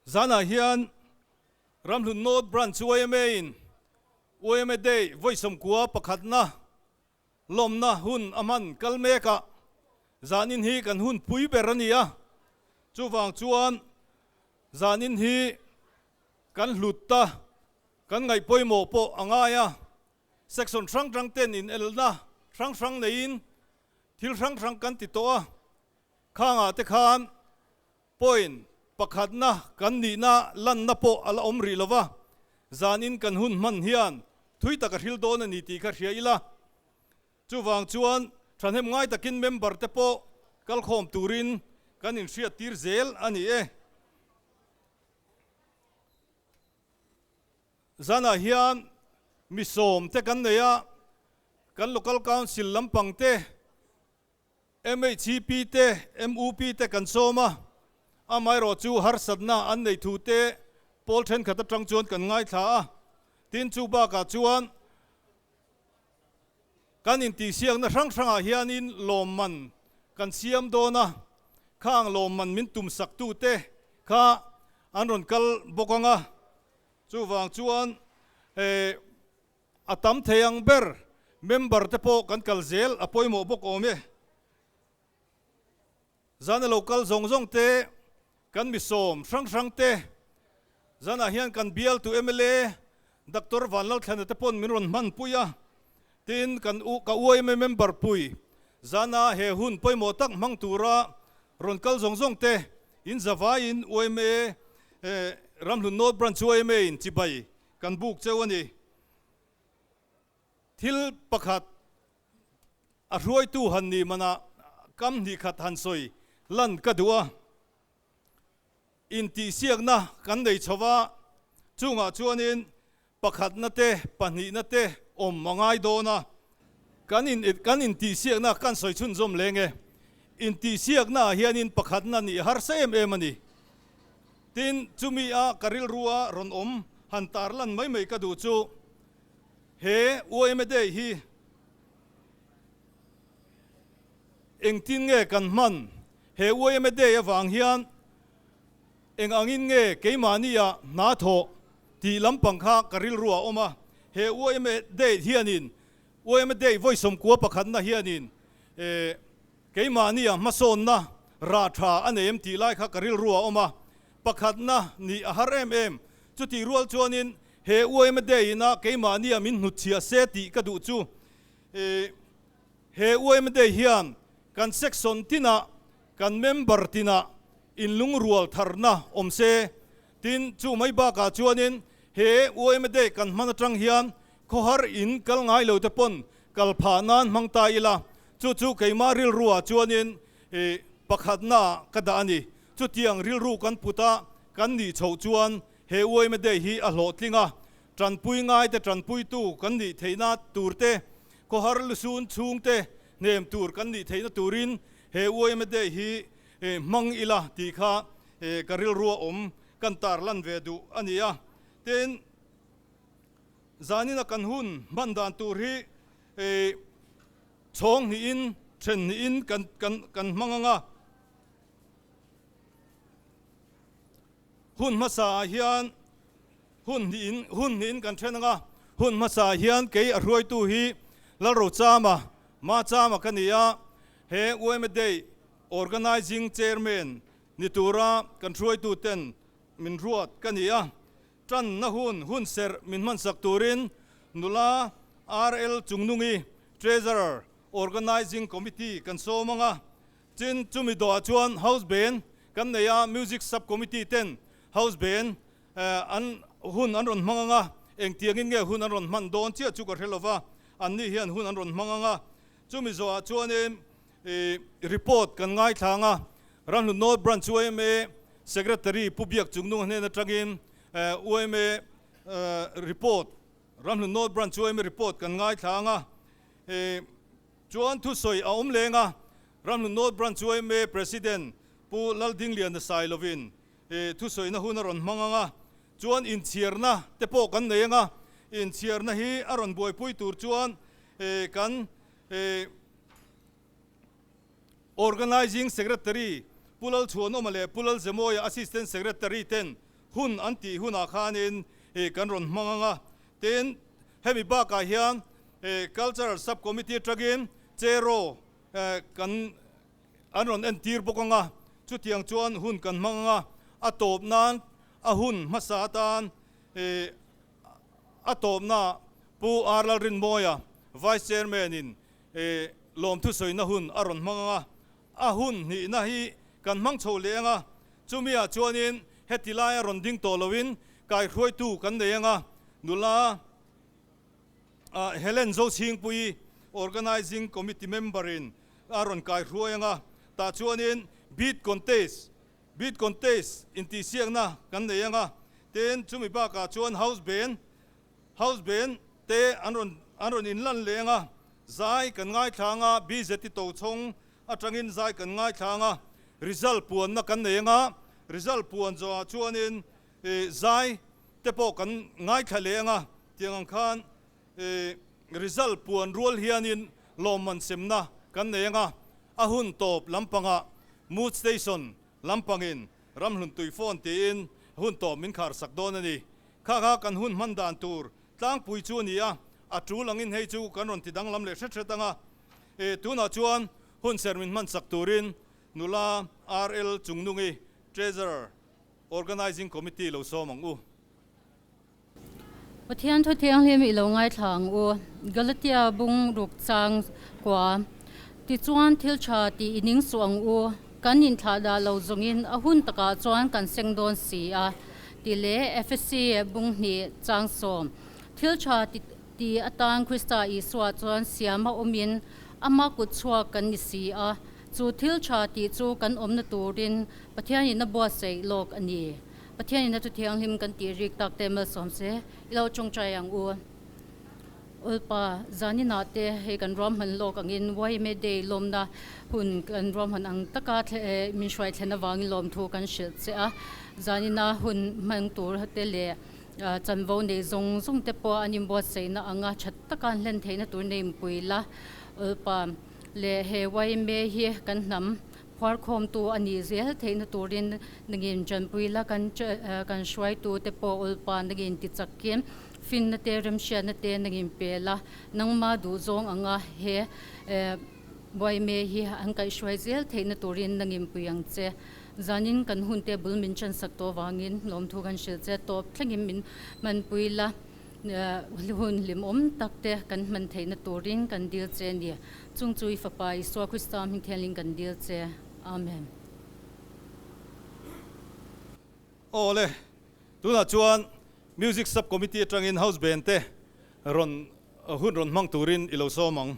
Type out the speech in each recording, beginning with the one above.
Zanah hian Ramhlun North Branch UMA in UMA Day vawisawmkua pakhatna lawmna hun a hman kal mek a, zanin hi kan hun pui ber a ni a, chuvang chuan zanin hi kan hlut ta, kan ngaih pawimawh pawh a ngai a. Section hrang hrang ten inelna hrang hrang neiin thil hrang hrang kan ti tawh a, khangah te khan point pakhatna kan nihna lanna pawh a la awm rih lova, zanin kan hun hman hian thui taka hril dawn a ni tih kha hria ila. Chuvang chuan thahnem ngai takin member te pawh kalkhawm turin kan inhriat tir zel a ni e. Zanah hian mi sawm te kan nei a, kan Local Council lampang te, MHCP te, MUP te kan sawm a, amaherawh chu harsatna an nei thu te Pawl thenkhat atang chuan kan ngaithla a, tin chu bakah chuan kan intihsiakna hrang hrangah hianin lawmman kan siam dawn a, khang lawmman min tum saktu te kha an rawn kal bawk ang a, Chuvang chuan he a tam thei ang ber member te pawh kan kal zel a pawimawh bawk awm e. Zan a lo kal zawng zawng te kan mi sawm hrang hrang te, zanah hian kan bialtu mla Doctor Vanlalthlena te pawn min rawn hman pui a. Tin, kan ka uaima member pui zana he hun pawimawh tak hmang tura rawn kal zawng zawng te in zavaiin uaima ramhlun north branch chu uaima in chibai kan buk cheu a ni. Thil pakhat a hruaitu han nih manah kam hnih khat han sawi lan ka duh a. Intihsiakna kan nei chho va, chungah chuanin pakhatna te pahnihna te awm a ngai dawn a. Kan in kan intihsiakna kan sawi chhunzawm leng e. Intihsiaknaah hianin pakhatna nih harsa em em a ni. Tin, chumi a ka rilrua rawn awm han tar lan mai mai ka duh chu he UMA Day hi, Engtin nge kan hman? He uaima day avang hian eng angin nge keimahnia hna thawh tih lampang kha ka rilru a awm a. He uaima date hianin, uaima day vawisawm kua pakhatna hianin eh keimahnia hmasawnna rah tha a nei em tih lai kha ka rilru a awm a. Pakhatna nih a har em em. Chutih rual chuanin he uaima day-ina keimahnia min hnutchhiah se tih ka duh chu eh He Uaima Day hian kan section tinah kan member tinah inlungrual tharna awm se. Tin, chu mai bakah chuanin he Uaima Day kan hman atang hian khawhar in kal ngai lo te pawn kal phah nan hmang ta ila. Chu chu keimah rilruah chuanin pakhatnaah ka dah a ni. Chutiang rilru kan put a, kan nih chhoh chuan He Uaima Day hi a hlawhtling a, tanpui ngaite tanpuitu kan nih theihna turte, khawhar lusun chhungte hnem tur kan nih theihna turin he Uaima Day hi hmang ila tih kha ka rilrua awm kan tar lan ve duh a ni a. Tin, zanin a kan hun hman dan tur hi chhawngnihin, thennihin kan hmang ang a. Hun hmasa ah hian hun hnih in hun hnih in kan then ang a, hun hmasa ah hian kei a hruaitu hi Lalro Chama, Ma Chama ka ni a, he Uaima Day Organising Chairman ni tura kan hruaitu ten min hruat ka ni a, tan na hun hun serh min hmansak turin nula RL Chungnungi Treasurer Organising Committee kan sawm ang a, Tin, chumi dawhah chuan House band kan nei a, Music Sub-Committee ten House band an hun an rawn hmang ang a, engtiangin nge hun an rawn hman dawn chiah chu ka hre lova, annih hian hun an rawn hmang ang a. Chumi zawhah chuanin report kan ngaithla ang a, Rahlunnawl Branch UMA Secretary Pu Biak Chung Nung hnen atangin UMA report, Rahlunnawl Branch UMA report kan ngaithla ang a. Chuan thusawi a awm leng a, Ramhlun North Branch UMA President Pu Laldinglian nasai lovin thusawiina hun a rawn hmang ang a, chuan inchhiarna te pawh kan nei ang a, inchhiarna hi a rawn buaipui tur chuan kan Organising Secretary Pu Lalchhuanawma leh Pu Lalzemawiah Assistant Secretary ten Hun an tih hunah khanin kan rawn hmang ang a, tin hemi bakah hian Cultural Subcommittee atangin chair-aw kan an rawn entir bawk ang a, chutiang chuan hun kan hmang ang a, a tawp nan a hun hmasa atan a tawpna Pu Ar Lalrinmawia Vice Chairman-in lawmthusawina hun a rawn hmang ang a, A hun hnihna hi kan hmang chho leh ang a, chumi ah chuanin heti lai a rawn ding tawh loin kaihruaitu kan nei ang a, nula Helen Zochhingpuii Organising Committee Member in a rawn kaihruai ang a, tah chuanin Bead Contest, Bead Contest intihsiakna kan nei ang a, tin chumi bakah chuan House Ben, House Ben te an rawn an rawn in lan leng a, zai kan ngaithlang a, BZT to chhawng atangin zai kan ngaithlang a, result puanna kan nei anga result puan zawngah chuanin ih zai te pawh kan ngaithla leh anga tiang ang khan ih result puan rual hianin lawmman semna kan nei anga a hun tawp lampangah Mood Station Lampangin ramhlun tui fawn tiin hun tawp min khar sak dawn a ni. Kha kha kan hun hman dan tur tlangpui chu a ni a, a tul angin hei chu kan rawn ti danglam leh hret hret ang a. E, tunah chuan hun ser min hman sak turin nula RL chungnungi Treasurer, Organising Committee lo sawm ang u. Pathian thu thianghlim i lo ngaithla ang u, Galatia bung ruk chang kua. Tichuan, thil tha tih i ning suh ang u, kan inthlah dah lo zawngin a hun takah chuan kan seng dawn si a ti leh Efesi bung hnih chang sawm. Thil tha ti atan Krista Isua chuan siam a awmin ama kut chhuak kan ni si a, chu thil tha tih chu kan awmna turin Pathian in a buatsaih lawk a ni. Pathianin a Thu Thianghlim kan tih rîk tak te malsawm se i lo ṭawngṭai ang u. Ulpa Janina te hei kan ruahman lawk angin YMA Day lawmna hun kan ruahman ang taka min hruai thlen avangin lawm thu kan hrilh che a. Janina hun hmang tur te leh chanvo nei zawng zawng te pawh an inbuatsaihna ang a, ṭhat taka an hlen theihna tur nei inpui la. Ulpa leh he YMA hi kan hnam. Huarkhawmtu a nih zel theihna turin ningin Chanpui la kan kan hruaitu te pawh ulpa ningin ti chak in finna te remhriatna te ningin pel a, nangma duh zawng anga he Buaime hi an kaih hruai zel theihna turin ningin pui ang che. Zanin kan hunte bul min chansak tawh avangin lawmthu kan hrilh che tawp thlengin min hmanpui la, hun hlimawm takte kan hman theihna turin kan dil che a ni. Chungchu i Fapa Isua Krista hming thianghlim kan dil che. Amen. Awle, tunah chuan Music Sub-Committee atangin House Band te rawn hun rawn hmang turin i lo sawm ang.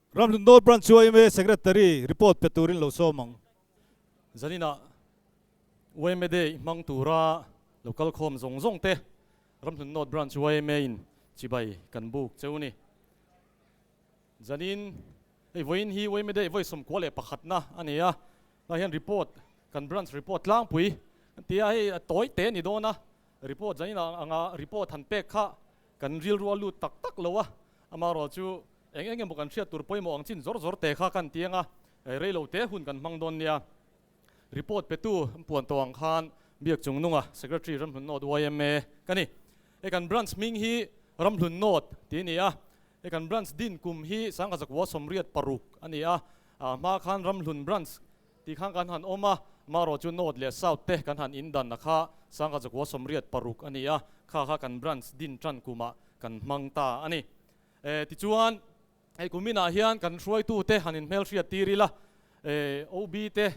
Ramhlundawl Branch chu yma Secretary report pe turin lo sawm ang. Zaninah yma day hmang tura lo kal khawm zawng zawng te Ramhlundawl Branch yma in chibai kan buk cheu ni. Zanin hei vawiin hi yma day vawi sawm kuah leh pakhatna a ni a, tunah hian report kan Branch report tlangpui an ti a, hei a tawi teh a ni dawn a, report zaninah anga report han pek kha Kan rilru a lut tak tak lo a, amah rual chu eng eng emaw kan hriat tur pawimawh ang chin zawr zawr te kha kan ti ang a, rei lo te hun kan hmang dawn nia. Report petu puan tawh ang khan Biak Chungnunga Secretary Ramhlun Nawt yma ka ni. E kan branch hming hi Ramhlun Nawt tih a ni a, e kan branch din kum hi Sangkhazakwua Sawmriat Paruk a ni a, a hma khan Ramhlun Branch Tih khan kan han awm a, marawh chu North leh South te kan han indanna kha Sangha Zakhua Sawmriat paruk a ni a, kha kha kan branch din tan kumah kan hmang ta a ni. E, tichuan hei kuminah hian kan hruaitu te han inhmelhriat tir ila, e, OB te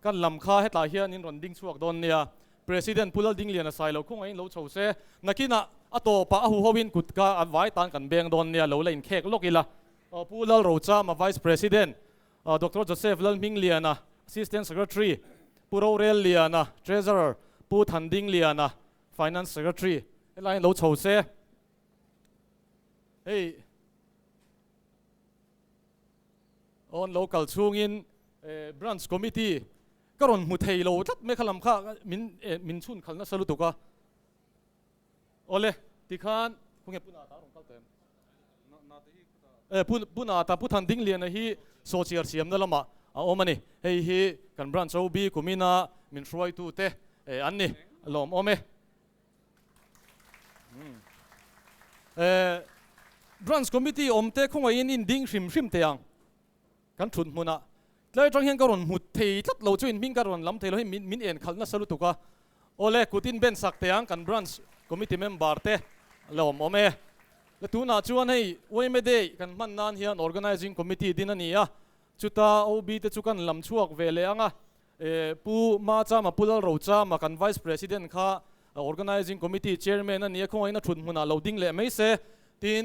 kan lam kha hetlai hian in rawn ding chhuak dawn nia, President Pu Laldingliana sai lo khawngah in lo chho se, nakinah a tawpah a huhoin kut kha a vai tan kan beng dawn nia, lo la inkhek lawk ila, Pu Lalrochama Vice President, Doctor Joseph Lalhmingliana, Assistant Secretary, Pu Rorel Liana, Treasurer, Pu Thanding Liana, Finance Secretary, helaiin lo chho se hei awn lo kal chhungin Branch Committee ka rawn hmu thei lo tlat mek a lam kha min chhunkhalh nasa lutuk a. Awle, ti khan khaw nge Pu Nata a rawn kal ta em? Eh, Pu Pu Nata, Pu Than Ding Liana hi saw chiar siamna lamah a awm a ni. Hei hi kan Branch Chobi Kumina min hruaitu te eh an ni lawm awm e. Eh, Branch Committee awmte khawngaihin in ding hrim hrim teh ang. Kan thut hmun ah tlai atang hian ka rawn hmu thei tlat lo chu in hming ka rawn lam thei lo hei min en khal nasa lutuk a aw le kut in ben sak thei ang kan branch committee member te la awm awm e le tun ah chuan hei uaime day kan hman nan hian organising committee din a ni a chuta OB te chu kan lam chhuak ve leh ang a e pu ma chama pu lalro chama kan vice president kha organising committee chairman a ni a khawngaihna thut hmun ah lo ding leh mai se tin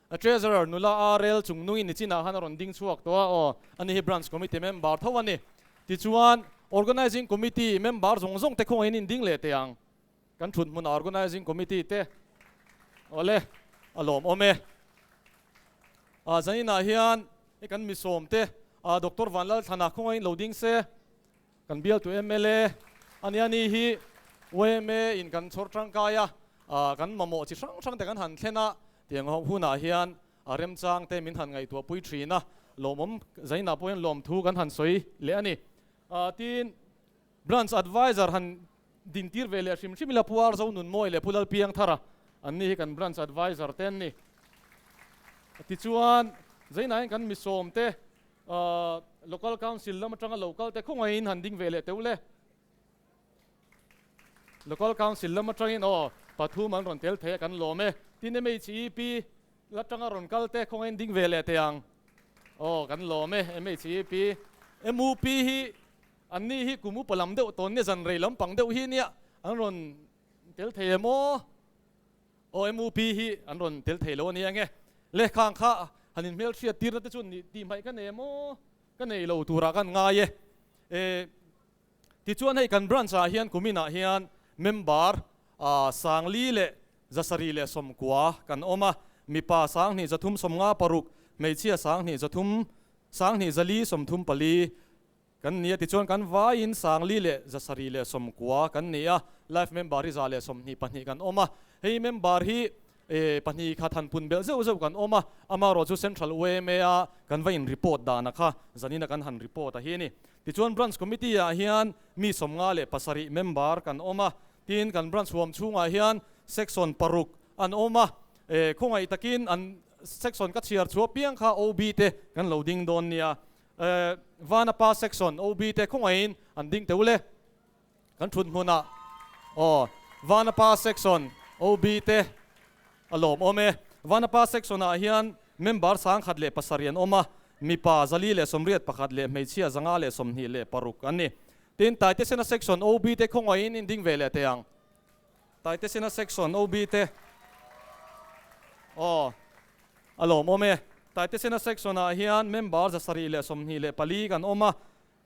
A Treasurer nula a rel chung nungin ni chinah han a rawn ding chhuak tawh a, aw, a ni hi Branch Committee member tho a ni. Tichuan, Organising Committee member zawng zawng te khawngahin in ding leh teh ang. Kan thut hmunah Organising Committee te, awle, a lawm awm e. Aah, zaninah hian, hei kan misawm te, aah, Doctor Vanlalthana khawngahin lo ding se. Kan bialtu mla a nia ni hi yma in kan chhawr tangkai a, kan mamawh chi hrang hrangte kan han thlen a, tiang ho hunah hian remchangte min han ngaihtuah pui thin a, lawmawm zainah pawh hian lawm thu kan han sawi leh a ni. Tin, Branch Advisor han din tir ve leh hrim hrim ila Puar Zo Nun Mawi leh Pu Lal Piang Thar a, an ni hi kan Branch Advisor te an ni. Tichuan, zainah hian kan misawmte, Local Council lam atanga lo kalte khawngaihin han ding ve leh teuh le. Local Council lam atangin aw pathum an rawn tel thei a kan lawm e. Tin MHEP atanga rawn kalte khawngaihin ding ve leh teh ang? Aw kan lawm e. MHEP, MUP hi an nih hi kum upa lam deuh tawn nia, zanrei lampang deuh hi nia an rawn tel thei em aw? OMUP hi an rawn tel thei lo a nia enge? Lehkhang kha han inhmelhriat tirna te chuan nih tihmai ka nei maw? Ka nei lo turah kan ngai e. Eh, tichuan hei kan branch ah hian kumin ah hian member Sangli leh zasarih leh sawmkua kan awm a, mipa sanghnih zathum sawmnga paruk, hmeichhia sanghnih zathum, sanghnih zali sawmthum pali, Kan nia tichuan kan vaiin Sangli leh Zasari leh Sawmkua kan ni a, Life member hi za leh sawmhnih pahnih kan awm a. Hei member hi pahnih kha thanpun belh zeuh zeuh kan awm a, amarawh chu Central UMA-a kan va inreport dana kha zanin a kan han report a hi a ni. Tichuan Branch Committee-ah hian mi sawmnga leh pasarih member kan awm a, tin kan Branch huam chhungah hian Section paruk an awm a, khawngaih takin an Section ka chhiar chhuah piang kha OB-te kan lo ding dawn nia, Vana pa section OB te khawngaihin an ding teu le. Kan thut hmun ah aw Vana pa section OB te a lawm awm e. Vana pa section ah hian member sangkhat leh pasarih an awm a, mipa zali leh sawmriat pakhat leh hmeichhia zanga leh sawmhnih leh paruk an ni. Tin, Taitesena section OB te khawngaihin in ding ve leh teh ang. Taitesina section OB te aw a lawm awm e. Taitesina section ah hian member za sarih leh sawmhnih leh pali kan awm a,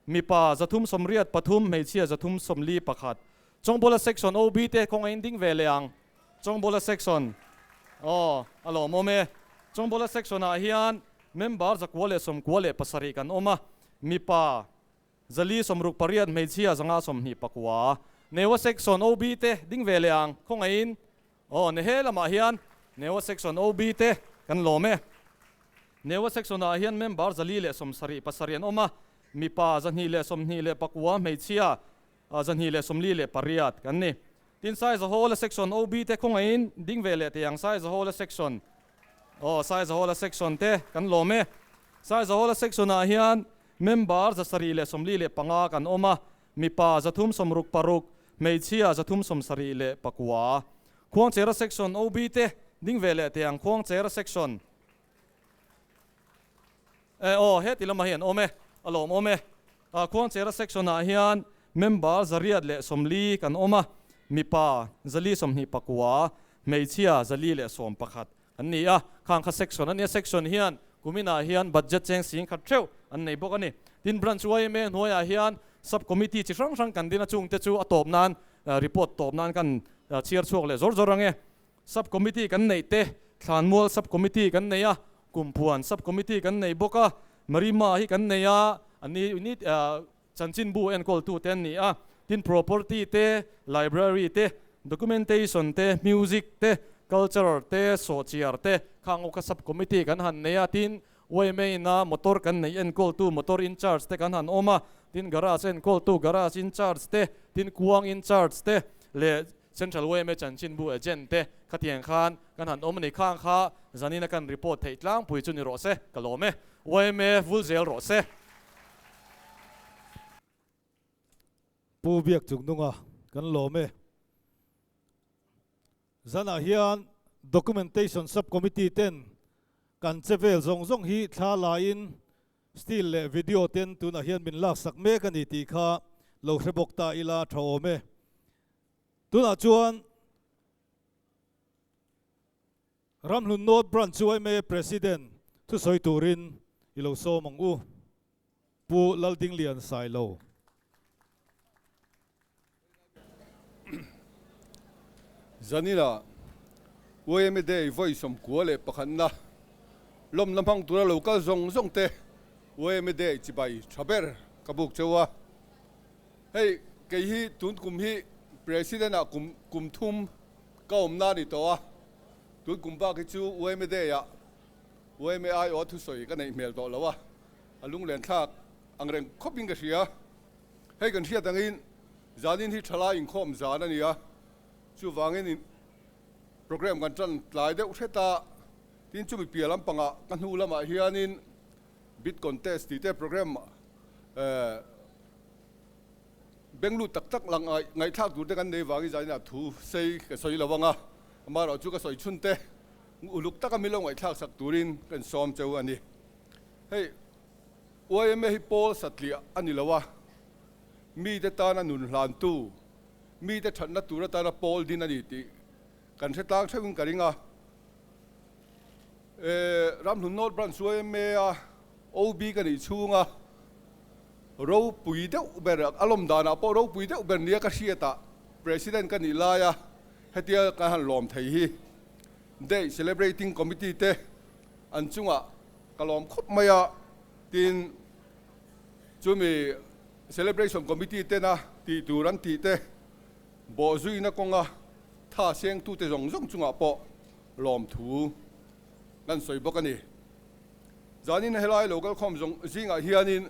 mipa za thum sawmriat pathum, hmeichhia za thum sawmli pakhat. Chawngbawla section OB te kawng a in ding ve leh ang. Chawngbawla section aw a lawm awm e. Chawngbawla section ah hian member za kua leh sawmkua leh pasarih kan awm a, mipa. Zali sawmruk pariat hmeichhia zanga sawmhnih pakua Newa section OB te ding ve leh ang khawngaihin aw ni he lamah hian Newa section OB te kan lawm e. Newa section ah hian member zali leh sawm sarih pasarih an awm a, mipa zahnih leh sawmhnih leh pakua, hmeichhia zahnih leh sawmli leh pariat kan ni. Tin Sai Zahola section OB te khawngaihin ding ve leh teh ang Sai Zahola section aw Sai Zahola section te kan lawm e. Sai Zahola section ah hian Member za sarih leh sawmli leh panga kan awm a, mipa za thum sawm ruk paruk, hmeichhia za thum sawm sarih leh pakua. Khuangchera section OB te ding ve leh tiang Khuangchera section eh aw heti lamah hi an awm e, a lawm awm e. A Khuangchera section ah hian member za riat leh sawmli kan awm a, mipa za li sawmhnih pakua, hmeichhia za li leh sawm pakhat. an ni a, khang kha section a nia, section hian kumin ah hian budget cheng sing khat theuh an nei bawk a ni. Tin, branch yma hnuai ah hian sub committee chi hrang hrang kan din a chungte chu a tawp nan report tawp nan kan chhiar chhuak leh zawr zawr ange. Sub committee kan neih te, thlanmual sub committee kan nei a, kumpuan sub committee kan nei bawk a, marima hi kan nei a, an ni ni ah, Chanchin bu enkawl-tu te an ni a, tin property te, library te, documentation te, music te, cultural te, sawhchiar te kha Ngawkha Sub Committee kan han nei a, tin Way Main a motor kan neih enkawl-tu motor incharge te kan han awm a, tin garage enkawl-tu garage incharge te, tin kuang incharge te leh Central YMA chanchinbu agent te khatiang khan kan han awm a ni khang kha zanin a kan report theih tlangpui chu ni rawh se ka lawm e. YMA vul zel rawh se. Pu Biak Chuknunga kan lawm e. Zanah hian Documentation Subcommittee ten kan che vel zawng zawng hi thla laiin still leh video ten tunah hian min laksak mek a ni tih kha lo hre bawk ta ila tha awm e. Tunah chuan Ramhlun North Branch UMA President thusawi turin i lo sawm ang u, Pu Laldinglian Sailo. Zanila UMA Day vawi sawmkua leh pakhatna lawm la hmang tura lo kal zawng zawngte UMA Day chibai tha ber ka buk cheu a. Hei kei hi tun kum hi President a kum kum thum ka awmna a ni tawh a, tun kum bak hi chu UMA Day ah UMA aia a thusawi ka neih hmel tawh lo a, a lunglentthlak ang reng khawpin ka hria. Hei kan hriat angin zanin hi thalai inkhawm zan a ni a, chuvangin in programme kan tan tlai deuh hret a, tin chumi piah lampangah ka hnu lamah hianin Bid Contest tihte programme eh. Beng lut tak tak lang ah ngaihthlak tur te kan nei vang i zan in ah thu sei ka sawi lo vang a, amah erawh chu ka sawi chhun te uluk taka min lo ngaihthlak sak tur in ka in sawm cheu a ni. Hei yma hi Paul satliah a ni lo a, mi te tan a nun hlan tu, mi te thatna tur atan a pawl din a ni tih kan hretlang theuh in ka ring a. E, Ramhlun North Branch chu ema a OB ka nih chhunga ropui deuh ber a lawm danah pawh ropui deuh ber nia ka hriat a President ka nih lai a hetia kan han lawm thei hi Day Celebrating Committee te an chunga ka lawm khawp mai a tin chumi Celebration Committee tena tih tur an tih te bawhzuina kawnga thasengtute zawng zawng chungah pawh Lawmthu kan sawi bawk a ni. Zanin helai lo kalkhawm zawng zingah hianin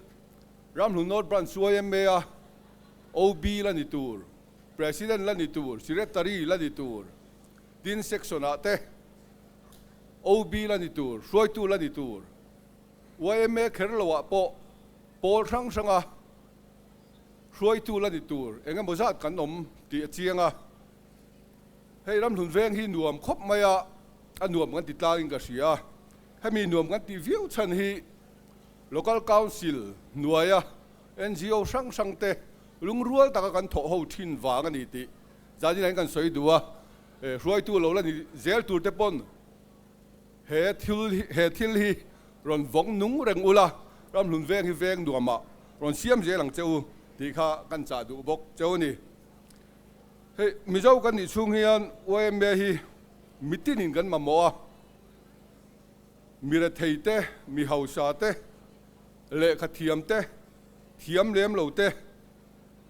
Ramhlun North Branch chu a emme a, OB la ni tur, President la ni tur, Secretary la ni tur, tin section ah te OB la ni tur, hruaitu la ni tur, yma kher lo ah pawh pawl hrang hranga hruaitu la ni tur eng emaw zat kan awm tih a chiang a. Hei ramhlun veng hi nuam khawp mai a, a nuam kan ti tlangin ka hria a, hemi nuam kan tih viau chhan hi Local Council hnuaia NGO hrang hrang te lungrual taka kan thawh ho thin vang a ni tih zanin an kan sawi duh a, hruaitu lo la ni zel tur te pawn he thil he thil hi rawn vawng nung reng ula ramhlun veng hi veng nuamah rawn siam zel ang che u tih kha kan chah duh bawk cheu a ni. Hei Mizo kan nih chhung hian YMA hi mitin in kan mamawh a, mirethei te, mihausa te, lehkha thiam te, thiam lem lo te,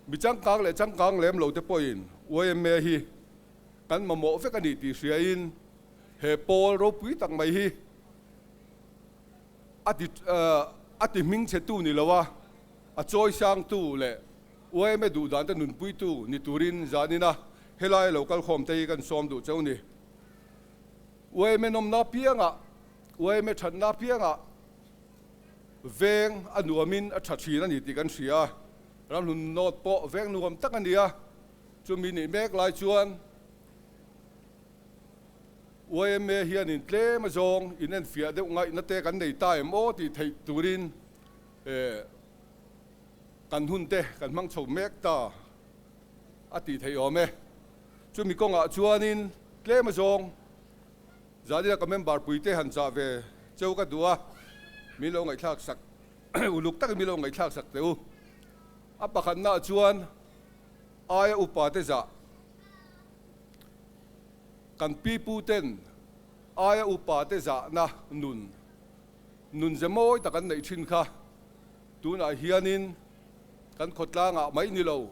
mi changkang leh changkang lem lo te pawhin YMA hi kan mamawh vek a ni tih hria in he pawl ropui tak mai hi a ti hming che tu ni lo a, a chawi sang tu leh Uaime duhdante nunpuitu ni turin zahnina helai lo kalkhawmte hi kan sawm duh cheu ni. Uaime nawmna apianga, uaime thatna apianga veng a nuamin a tha thin a ni tih kan hria. Ramhlun nawt pawh veng nuam tak a nia. Chumi nih mek lai chuan uaime hianin tlema zawng inenfiah deuh ngaihna te kan nei ta em aw tih theih turin e. Kan hun te kan hmang chho mek ta a tih theih awm e. Chumi kawngah chuanin tlem a zawng Zalina ka member pui te han chah ve cheu ka duh a, min lo ngaihthlak sak uluk takin min lo ngaihthlak sak teh u. A pakhatnah chuan aia upa te zah kan pi pu ten aia upa te zahna nun nun ze mawi tak an neih thin kha. Tunah hianin kan khawtlangah mai ni lo,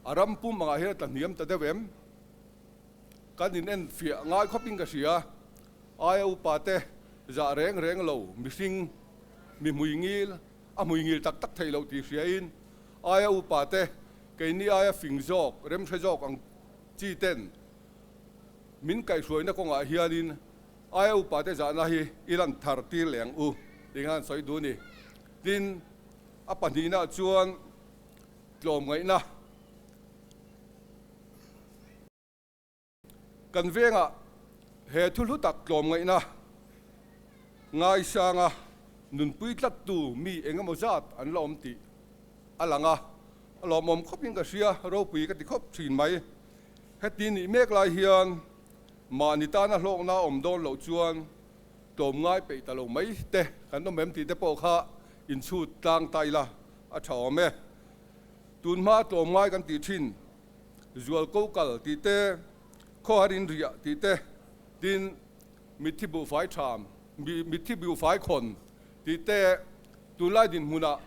a ram pum angah hian a ta hniam ta deuh em? Kan inenfiah ngai khawpin ka hria. Aia upa te, zah reng reng lo, mihring, mi hmuingil, a hmuingil tak tak theih loh tih hriain aia upa te, keini aia fing zawk, remhre zawk ang chi ten min kaihhruaina kawngah hianin Ai a upa te zahna hi i lan thar tir leng u, ti kha an sawi dun ni. Tin, a pahnihna chuan tlawm ngaihna kan vengah he thu hlu tak tlawm ngaihna ngaisanga nunpui tlattu mi eng emaw zat an la awm tih a lang a, a lawmawm khawpin ka hria, ropui ka ti khawp thin mai. Heti nih mek lai hian Mahni tana hlawkna awm dawn loh chuan tlawm ngai peih ta lo mai te kan awm em tih te pawh kha inchhut tlang ta ila a tha awm e. Tun hmaa tlawm ngai kan tih thin, zual ko kal tih te, khawhar inriah tih te, tin mitthi buhfai tham, mitthi buhfai khawn tih te tunlai dinhmunah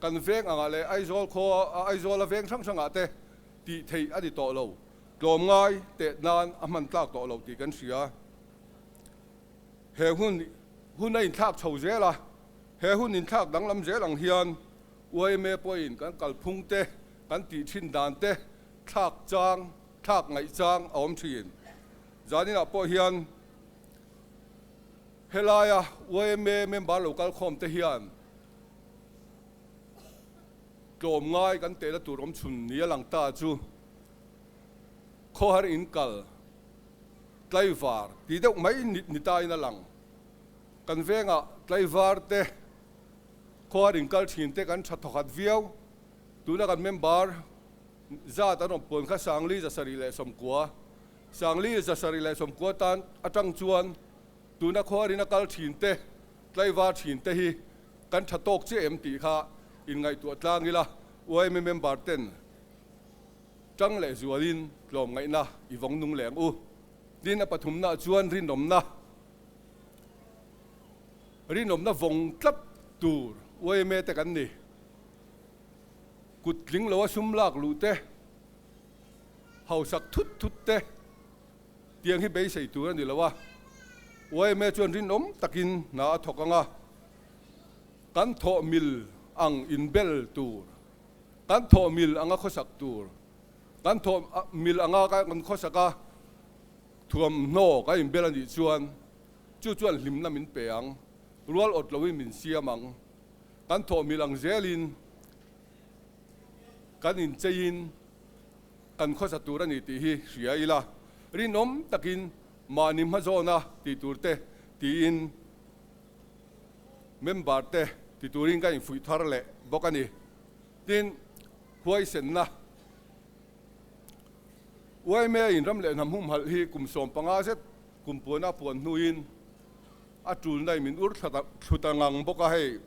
kan veng angah leh Aizawl khaw, Aizawl a veng hrang hrangah te tih theih a ni tawh lo. Tlawm ngai teh nan a hman tlak tawh lo tih kan hria. He hun hun a inthlak chho zel a, he hun inthlak danglam zel ang hian yma pawhin kan kalphung te, kan tih thin dan te thlak chang, thlak ngaih chang a awm thin. Zaninah pawh hian helaia yma member lo kal khawm te hian tlawm ngai kan teh na tur awm chhun ni a lang ta chu Khawhar in kal tlaivar ti deuh mai ni tain a lang. Kan vengah tlaivar te, khawhar in kal thin te kan tha thawkhat viau. Tuna kan member zat an awm pawn kha Sangli, Zasarih leh Sawmkua. Sangli, Zasarih leh Sawmkua tan atang chuan tuna khawhar in a kal thin te, tlaivar thin te hi kan tha tawk che em tih kha in ngaihtuah tlang ila YMA member ten Tang leh zualin tlawm ngaihna i vawng nung leng u. Tin, a pathumna chuan rinawmna, rinawmna vawng tlap tur uaime te kan ni. Kut tling loha sum lak luh te, hausak thut thut te tiang hi beisei tur a ni lo a, uaime chuan rinawm takin hna a thawk ang a, kan thawhmil ang inbel tur. Kan thawh mil anga khawsak tur, kan thawh mil anga kan khawsaka thuamhnaw kan inbel a nih chuan, chu chuan hlimna min pe ang, rual awt loin min siam ang. Kan thawh mil ang zelin kan incheiin kan khawsa tur a ni tih hi hria ila, rinawm takin mahni hma zawna tih turte tiin member te ti turin ka infuih thar leh bawk a ni. Tin, huaisenna, yma in ram leh hnam humhalh hi kum sawm panga zet kum puana puan hnuin a tulna i min ur thlut a ngang bawk a, hei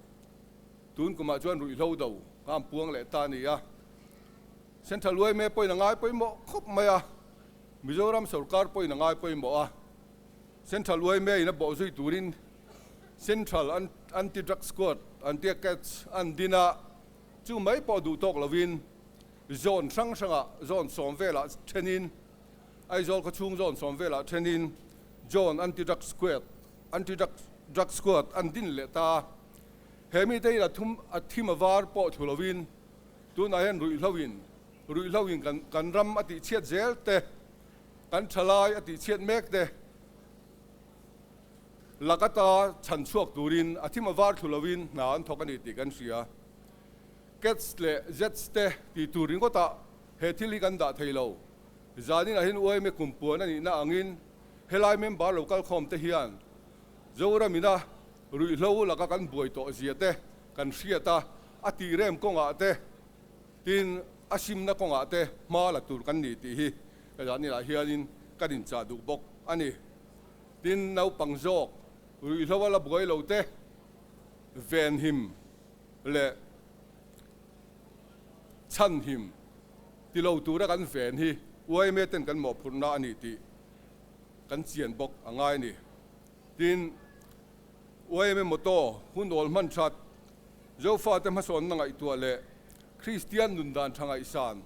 tun kumah chuan ruihhlo do kha an puang leh ta a ni a. Central yma pawhin a ngai pawimawh khawp mai a, Mizoram sawrkar pawhin a ngai pawimawh a. Central uaimia in a bawh zui turin Central Anti Drug Squad an tia catch an din a, chu mai pawh duh tawk lovin zone hrang hrangah zone sawm velah thenin Aizawl khawchhung zone sawm velah thenin Zone Anti Drug Squad Anti Drug Squad an din leh ta. He mite in a thum a thim a var pawh thu lovin tunah hian ruihhloin ruihhloin kan kan ram a tihchhiat zel te Kan thalai a tihchhiat mek te lak ata chhan chhuak turin a thim a var thlu loin hna an thawk a ni tih kan hria. Kets leh Zets te tih tur ringawtah he thil hi kan dah thei lo. Zanin ahin uaime kum puan a nihna angin helai member lo kalkhawm te hian Zoramina ruihhlo laka kan buai tawh zia te kan hriat a, a tihrem kawngah te, Tin, a hrimna kawngah te hma la tur kan ni tih hi Elanilah hianin kan inchah duh bawk a ni. Tin, naupang zawk ruihhlo a la buai lo te, venhim leh chhanhim ti lo tura kan ven hi YMA ten kan mawhphurhna a ni tih kan chian bawk a ngai a ni. Tin, YMM Auto hun awl hman that, Jehova-te hmasawnna ngaihtuah leh Kristian nundan tha ngaihsan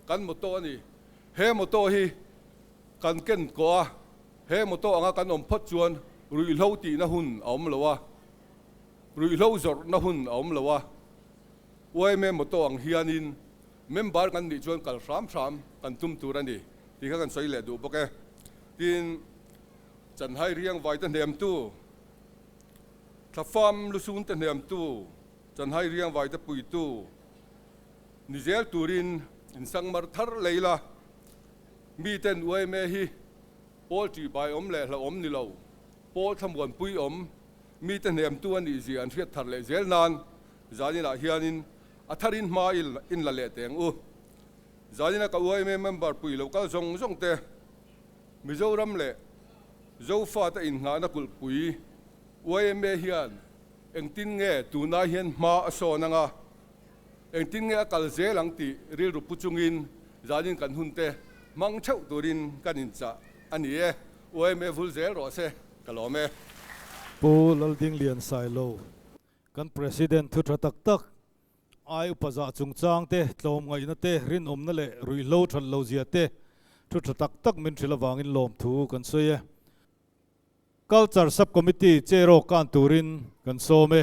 kan motto a ni. He motto hi kan ken ko a, he motto anga kan awm phawt chuan ruihhlo tihna hun a awm lo a, ruihhlo zawrhna hun a awm lo a. YMM Auto ang hianin member kan nih chuan kal hram hram kan tum tur a ni tih kha kan sawi leh duh bawk e. Tin, Chanhai riangvaite hnemtu, thlafam lusunte hnemtu, chanhai riangvaite puitu ni zel turin in sangmar thar lei la. Miten uaime hi Paul tih bai awm leh hla awm ni lo, Paul thlamuan pui awm mite hnemtu a nih zia an hriat thar leh zel nan zaninah hianin a tharin hma in la leh teng u. Zanina ka uaime member puilo kal zawng zawngte Mizoram leh Zofat-a inhnahna kulhpui yma hian engtin nge tunah hian hma a sawn ang a, engtin nge a kal zel ang tih rilru pu chungin zanin kan hun te hmang theuh turin kan inchah a ni e, yma vul zel rawh se ka lawm e. Pu Laldinglian Sailo, kan President thu tha tak tak Ai upa zah chungchang te, tlawm ngaihna te, rinawmna leh ruihhlo ṭhat lo zia te ṭhu ṭha tak tak min hrilh avangin lawmthu kan sawi e. Culture Subcommittee cherawk ka an turin kan sawm e.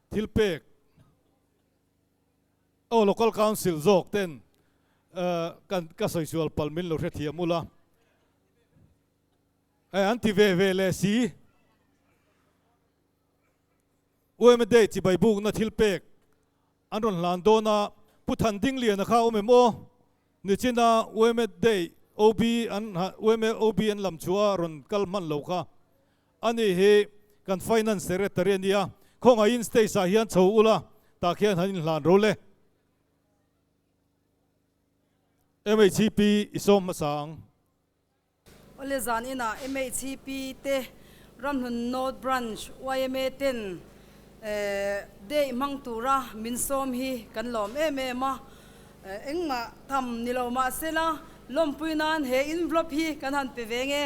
Thil pek aw local council zawk ten kan ka sawi sual pal min lo hrethiam ul a e an ti ve ve le si UMA day chibai buk na thil pek an rawn hlan dawn a Pu Than Ding Liana kha awm em aw ni chin a UMA day OB an UMA OB an lam chhuah a rawn kal hman lo kha A ni hi kan Finance Secretary a nia, khawngaihin stage ah hian chho ula tah khian han inhlan ro le. MHCP i sawm hmasa ang. Awle zan ina MHCP te, Ramhlun North Branch yma ten date hmang tura min sawm hi kan lawm em em a, engmah tam nilo mahsela lawmpui nan he envelope hi kan han pe ve nge.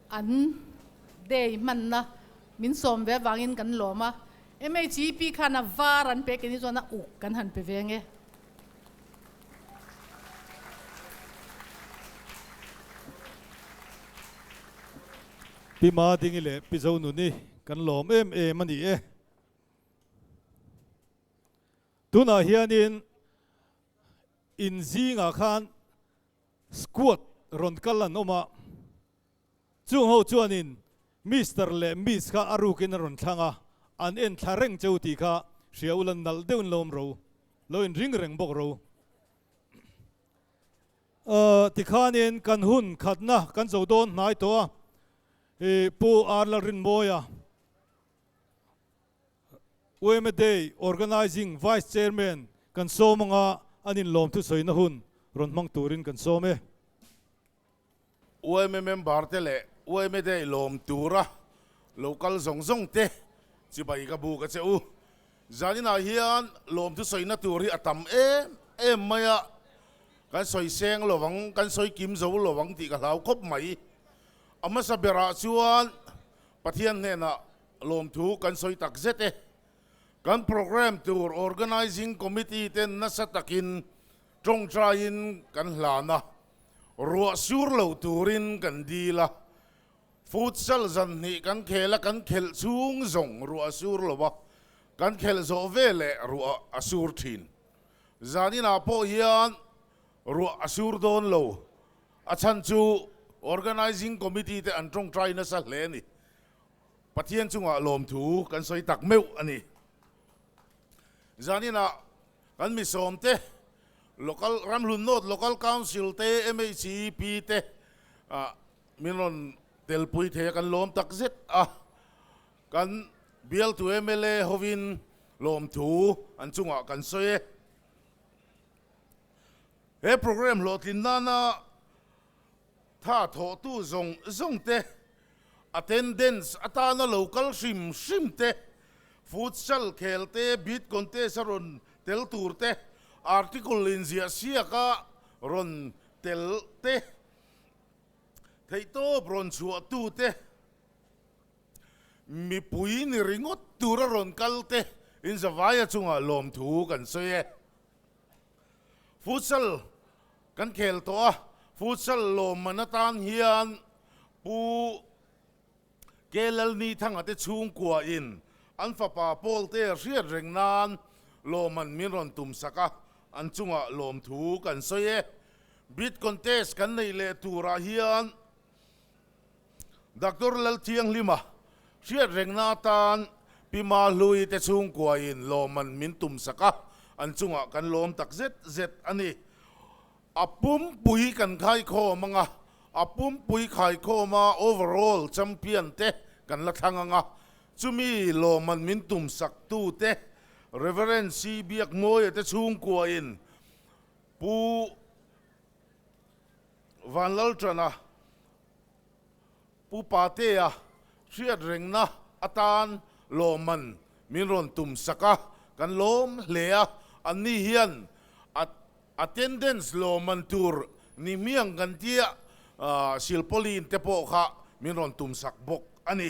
An day hmanna min sawm ve avangin kan lawm a, MHEP khan a var an pe keni chuan a uk kan han pe ve nge. Pi Ma Dingi leh Pi Zo Nuni kan lawm em em a ni e. Tunah hianin inzingah khan. Squad rawn kal an awm a, chung ho chuanin Mister leh Miss kha a rukin a rawn thlang a, an en thla reng cheu tih kha hria ula nalh deuhin lawm ro, lo in ring reng bawk ro. Aah tikhanin kan hun khatna kan zo dawn hnai tawh a, ih Pu Arla Rinmawia. UMA Day Organising Vice Chairman kan sawm anga an inlawm thusawiina hun rawn hmang turin kan sawm e. UMA Member te leh UMA Day lawm tura lo kal zawng zawng te chibai ka bu ka che u. Zaninah hian lawm thusawiina tur hi a tam em em mai a, kan sawi seng lo ang, kan sawi kim zo lo ang tih ka hlau khawp mai. A hmasa berah chuan Pathian hnenah Lawmthu kan sawi tak zet e. Kan programme tur Organising Committee te nasa takin tawngtaiin kan hlan a, ruah sur lo turin kan dil a, Futsal zanhnih kan khel a, kan khelh chhung zawng ruah a sur lo a, kan khelh zawh vel leh ruah a sur thin. Zaninah pawh hian ruah a sur dawn lo, a chhan chu Organising Committee te an tawngtai nasa hle a ni. Pathian chungah lawmthu kan sawi tak meuh a ni. Zaninah kan misawmte, local ramhlunhnawt, local council te, MHEP te ah min rawn telpui thei a, kan lawm tak zet a. Kan bialtu mla hovin lawmthu an chungah kan sawi e. He program hlawhtlin nana Tha thawhtu zawng zawng te, attendance atana lo kal hrim hrim te, futsal khel te, beat contest a rawn tel tur te, article inziah siak a rawn tel te, theihtawp rawn chhuah tu te, mipui ni ringawt tur a rawn kal te, inzavaia chungah lawmthu kan sawi e. Futsal kan khel tawh a, futsal lawm man atan hian Pu Kelalni Thanga te chhungkua in an fapa Paul te hriat reng nan lawm man min rawn tum sak a, an chunga lawm thu kan sawi e. Beat contest kan neih leh turah hian Doctor Lalthianghlima hriatrengna atan Pi Ma Hlui te chhungkua in lawm an min tum sak a, an chungah kan lawm tak zet zet a ni. A pumpui kan khaikhawm ang a, a pumpui khaikhawma overall champion te kan la thlang ang a, chumi lawm an min tum sak tu te Reverend Sii Biak Mawia te chhungkua in Pu Van Laltana, Pu Patea hriat rengna atan lawmman min rawn tum sak a, kan lawm hle a, anni hian attendance lawmman tur ni hmiang kan tia silpawlin te pawh kha min rawn tum sak bawk a ni.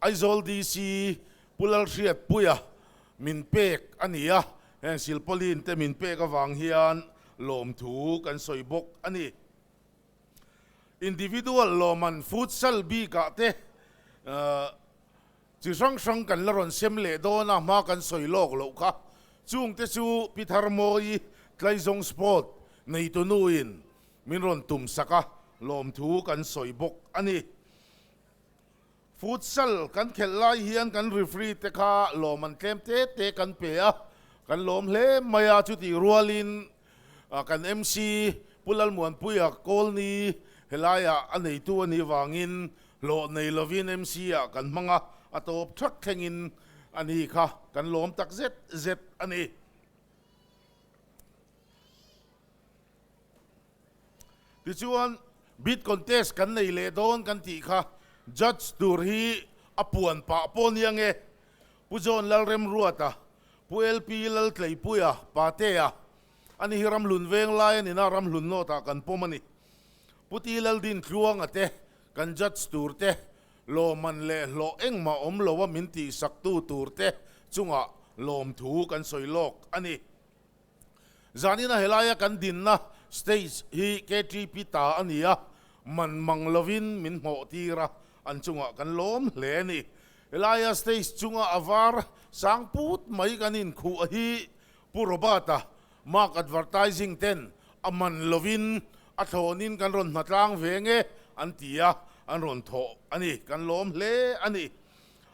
Aizawl DC Pu Lalhriatpuia min pek a ni a, heng silpawlin te min pek avang hian lawmthu kan sawi bawk a ni. Individual lawman futsal bikah te chi hrang hrang kan la rawn sem leh dawn a, hma kan sawi lawk loh kha chung te chu Pitharmawi Tlaizawng Sport neitunu in min rawn tum sak a, lawmthu kan sawi bawk a ni. Futsal kan khelh lai hian kan referee te kha lawm an tlem te te kan pe a, kan lawm hle mai a, chutih rualin kan MC Pu Lalmuanpuia Kawlni helaia a neitu a nih vangin hlawh nei lovin MC ah kan hmang a, a tawp thak thlengin a ni kha kan lawm tak zet zet a ni. Tichuan, Bid contest kan nei leh dawn kan tih kha Judge tur hi a puan pah pawh nia nge? Pu John Lalremruata, Pu LP Laltleipuia, Pa Tea, ani hi ramhlunveng lai a nina ramhlun nawtah kan pawm a ni. Pu Ti Laldin Tluanga te, kan Judge tur te, lawmman leh hlawh engmah awm lo a min tihsaktu tur te chungah lawmthu kan sawi lawk a ni. Zanin a helaia kan dinna stage hi KTP ta a ni a, man mang lovin min hmawh tir a, an chungah kan lawm hle a ni. Helaia stage chunga a var sang put mai kan inkhuh hi Pu Robert-a Mark Advertising ten a man lovin a thlawnin kan rawn hmatlang ve nge an ti a, an rawn thawh a ni, kan lawm hle a ni.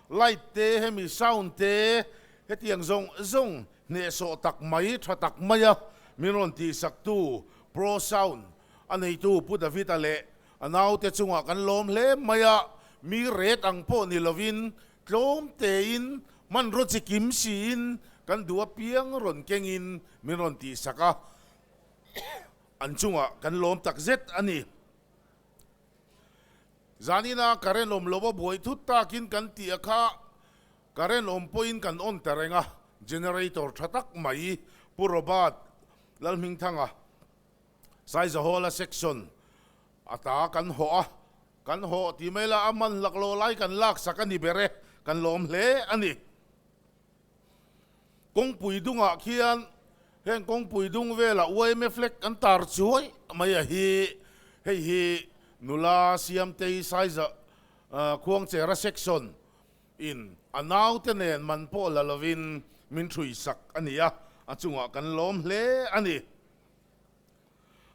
Light te hemi sound te hetiang zawng zawng Hnehsawh tak mai, tha tak mai a min rawn tihsaktu Pro Sound a neitu Pu David-a leh a naute chungah kan lawm hle mai a, mi ret ang pawh ni lovin tlawm tein hmanraw chi kim siin kan duh apiang rawn kengin min rawn tihsak a, an chungah kan lawm takzet a ni. Zanina ka renawm lo a buai thut takin kan tih a kha Current awm pawhin kan on ta reng a, generator tha tak mai. Pu Robert Lalhmingthanga Saizahawla section a ta kan haw a, kan haw tih mai la a man laklo lai kan lak sak a ni ber e, kan lawm hle a ni. Kawngpui dungah khian heng kawngpui dung vela ymf lek kan tar chuai mai a hi, hei hi Nula, Siamtei, Saiza, Khuangchera section. In, a naute nen man pawh la lovin min ṭhuihsak a ni a, a chungah kan lawm hle a ni.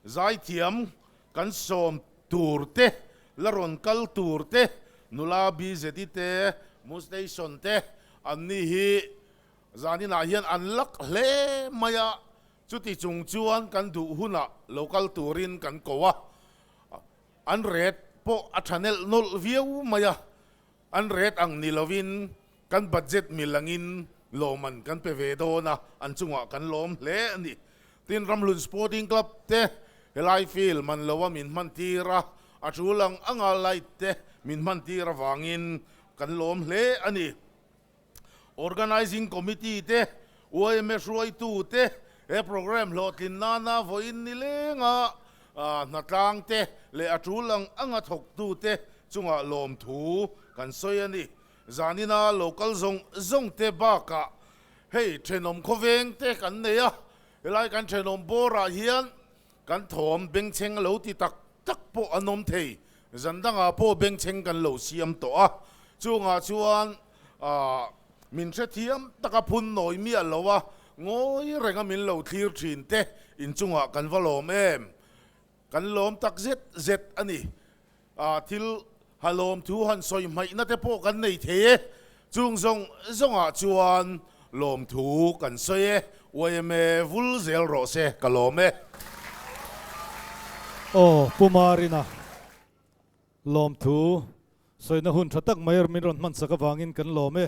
Zaithiam kan sawm tur te, la rawn kal tur te, nula bizeti te, mu station te an ni hi zaninah hian an lak hle mai a, chuti chung chuan kan duh hunah lo kal turin kan ko a, an ret pawh a ṭha nelh nawlh viau mai a, An ret ang ni lovin kan budget mil angin lawmman kan pe ve dawn a, an chungah kan lawm hle a ni. Tin, Ramhlun Sporting Club te helai field man lo a min hman tir a, a tul ang anga light te min hman tir avangin kan lawm hle a ni. Organising Committee te, uaime hruaitu te, he programme hlawhtlin nana vawiin ni lenga hnatlang te leh a tul ang anga thawktu te chungah lawmthu kan sawi a ni. Zanin a local zawng zawng te bakah hei thenawm khawveng te kan nei a, helai kan thenawm bawrah hian Kan thawm bengchheng a lo ti tak tak pawh an awm thei. Zan dangah pawh bengchheng kan lo siam tawh a, chungah chuan min hrethiam taka phun nawi miah loh a, ngawi renga min lo thlir thin te inchungah kan va lawm em? Kan lawm tak zet zet a ni. A thil ha lawm thu han sawi hmaihna te pawh kan nei thei e. Chung zawng zawngah chuan lawm thu kan sawi e. Yma vul zel rawh se ka lawm e. Aw Pu Marina, lawm thu sawina hun tha tak mai min rawn hmansak avangin kan lawm e.